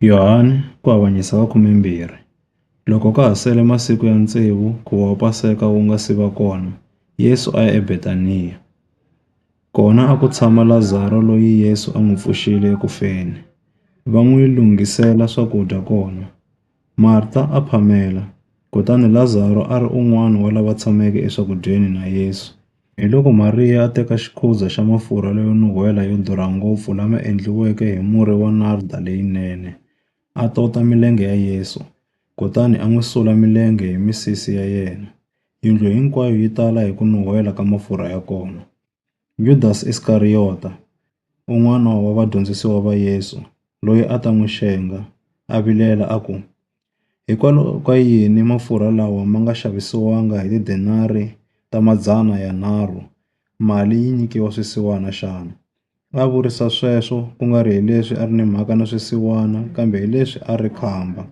Yohane ku avanyisa ka khume-mbirhi. Loko ka ha sele masiku ya tsevu nkhuvo wa Paseka wu nga si va kona, Yesu a ya eBetaniya. Kona a ku tshama Lazaro loyi Yesu a n'wi pfuxile eku feni. Va n'wi lunghisela swakudya kona. Marta a phamela, kutani Lazaro a ri un'wana wa lava tshameke eswakudyeni na Yesu. Hiloko Mariya a teka xikhuza xa mafurha layo nuhwela yo durha ngopfu lama endliweke hi murhi wa narda leyinene, a tota milenge ya Yesu, kutani a n'wi sula milenge hi misisi ya yena. Yindlu hinkwayo yi tala hi ku nuhwela ka mafurha ya kona. Yudasi Iskariyota, un'wana wa vadyondzisiwa va Yesu, loyi a ta n'wi xenga, a vilela a ku, Hikwalaho ka yini mafurha lawa ma nga xavisiwanga hi tidenari ta madzana yanharhu, mali yi nyikiwa swisiwana xana? A vurisa sweswo ku nga ri hileswi a ri ni mhaka na swisiwana kambe hileswi a ri khamba.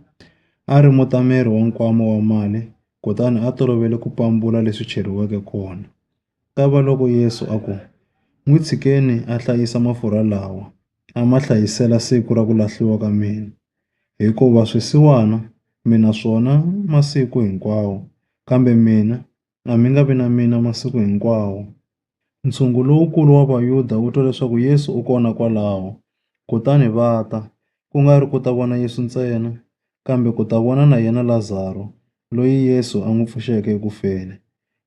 A ri mutameri wa nkwama wa mali kutani a tolovele ku pambula leswi cheriweke kona. Kavaloko Yesu a ku, N'wi tshikeni a hlayisa mafurha lawa, a ma hlayisela siku ra ku lahliwa ka mina. Hikuva swisiwana mi na swona masiku hinkwawo, kambe mina a mi nga vi na mina masiku hinkwawo. Ntshungu lowukulu wa Vayuda wu twa leswaku Yesu u kona kwalaho, kutani va ta, ku nga ri ku ta vona Yesu ntsena, kambe ku ta vona na yena Lazaro, loyi Yesu a n'wi pfuxeke ekufeni.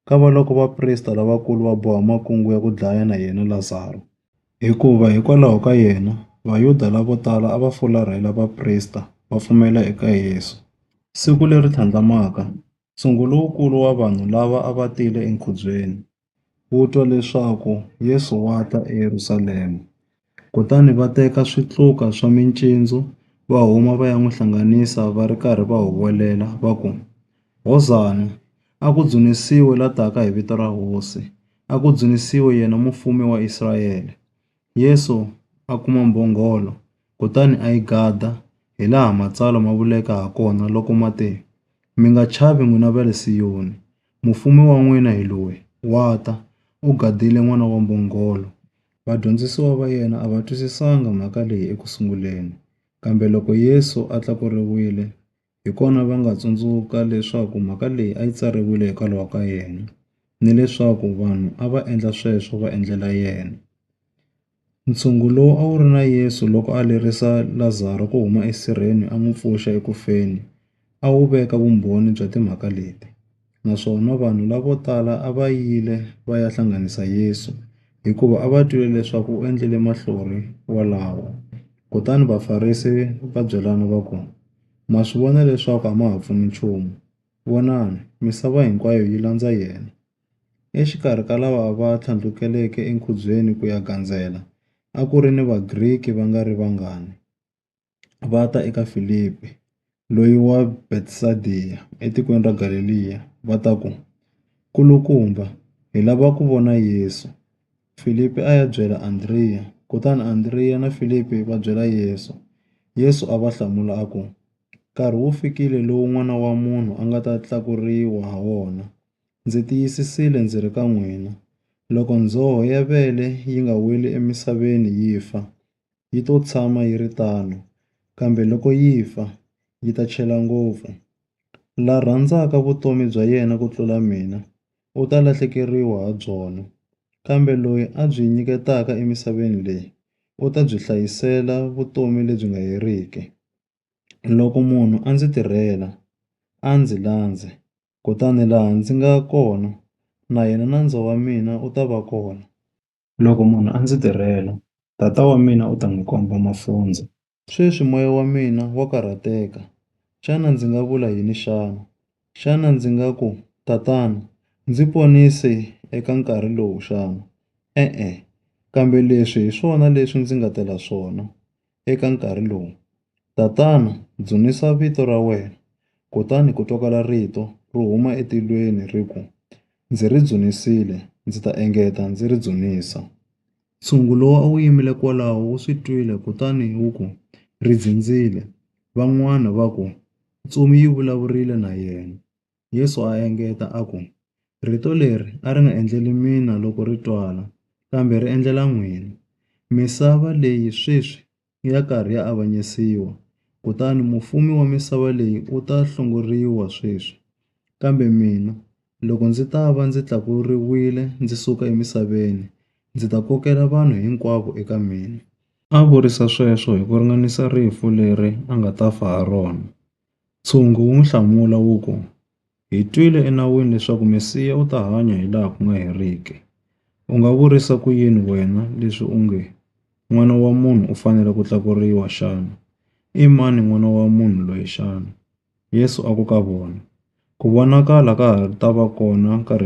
Kavaloko vaprista lavakulu va boha makungu ya ku dlaya na yena Lazaro. Hikuva hikwalaho ka yena, Vayuda lavo tala a va fularhela vaprista va pfumela eka Yesu. Siku leri tlhandlamaka, ntshungu lowukulu wa vanhu lava a va tile enkhubyeni, wu twa leswaku Yesu wa ta eYerusalema. Kutani va teka switluka swa mincindzu, va huma va ya n'wi hlanganisa va ri karhi va huwelela va ku, Hosana! A ku dzunisiwe la taka hi vito ra Hosi! A ku dzunisiwe yena Mufumi wa Israyele! Yesu a kuma mbhongolo, kutani a yi gada, hilaha Matsalwa ma vuleke hakona loko ma te, Mi nga chavi n'wina va le Siyoni. Mufumi wa n'wina hi loyi, wa ta, u gadile n'wana wa mbhongolo. Vadyondzisiwa va yena a va twisisanga mhaka leyi eku sunguleni, kambe loko Yesu a tlakuriwile, hi kona va nga tsundzuka leswaku mhaka leyi a yi tsariwile hikwalaho ka yena, ni leswaku vanhu a va endla sweswo va endlela yena. Ntshungu lowu a wu ri na Yesu loko a lerisa Lazaro ku huma esirheni a n'wi pfuxa eku feni a wu veka vumbhoni bya timhaka leti, naswona vanhu lavo tala a va yile va ya hlanganisa Yesu, hikuva a va twile leswaku u endlile mahlori walawo. Kutani Vafarisi va byelana va ku, Ma swi vona leswaku a ma ha pfuni nchumu. Vonani! Misava hinkwayo yi landza yena. Exikarhi ka lava va tlhandlukeleke enkhubyeni ku ya gandzela, a ku ri ni Vagriki va nga ri vangani. Va ta eka Filipi, loyi wa Betsayida etikweni ra Galeliya, va ta ku, Nkulukumba, hi lava ku vona Yesu. Filipi a ya byela Andriya, kutani Andriya na Filipi va byela Yesu. Yesu a va hlamula a ku, Nkarhi wu fikile lowu N'wana wa Munhu a nga ta tlakuriwa ha wona. Ndzi tiyisisile ndzi ri ka n'wina, loko ndzhoho ya vele yi nga weli emisaveni yi fa, yi to tshama yi ri tano, kambe loko yi fa, yi ta chela ngopfu. La rhandzaka vutomi bya yena ku tlula mina, u ta lahlekeriwa ha byona, kambe loyi a byi nyiketaka emisaveni leyi, u ta byi hlayisela vutomi lebyi nga heriki. Loko munhu a ndzi tirhela, a ndzi landze. kutani laha ndzi nga kona na yena nandzu wa mina u ta va kona. Loko munhu a ndzi tirhela, Tata wa mina u ta n'wi komba mafundzo. Sweswi moya wa mina wa karhateka, xana ndzi nga vula yini xana? Xana ndzi nga ku, Tatana, ndzi ponise eka nkarhi lowu xana? E-e, kambe leswi hi swona leswi ndzi nga tela swona. eka nkarhi lowu, Tatana, dzunisa vito ra wena. Kutani ku twakala rito ro huma etilweni ri ku, Ndzi ri dzunisile, ndzi ta engeta ndzi ri dzunisa. Ntshungu lowu a wu yimile kwalaho wu swi twile kutani wu ku, Ri dzindzile. Van'wana va ku, Ntsumi yi vulavurile na yena. Yesu a engeta a ku, Rito leri a ri nga endleli mina loko ri twala, kambe ri endlela n'wina. Misava leyi sweswi i ya karhi ya avanyisiwa, kutani mufumi wa misava leyi u ta hlongoriwa sweswi. Kambe mina, loko ndzi ta va ndzi tlakuriwile ndzi suka emisaveni, ndzi ta kokela vanhu hinkwavo eka mina. A vurisa sweswo hi ku ringanisa rifu leri a nga ta fa ha rona. Ntshungu wu n'wi hlamula wu ku, Hi twile eNawini leswaku Mesiya u ta hanya hilaha ku nga heriki. U nga vurisa ku yini wena leswi u nge, N'wana wa munhu u fanele ku tlakuriwa xana? I mani N'wana wa munhu loyi xana? Yesu a ku ka vona, Ku vonakala ka ha ta va kona nkarhi.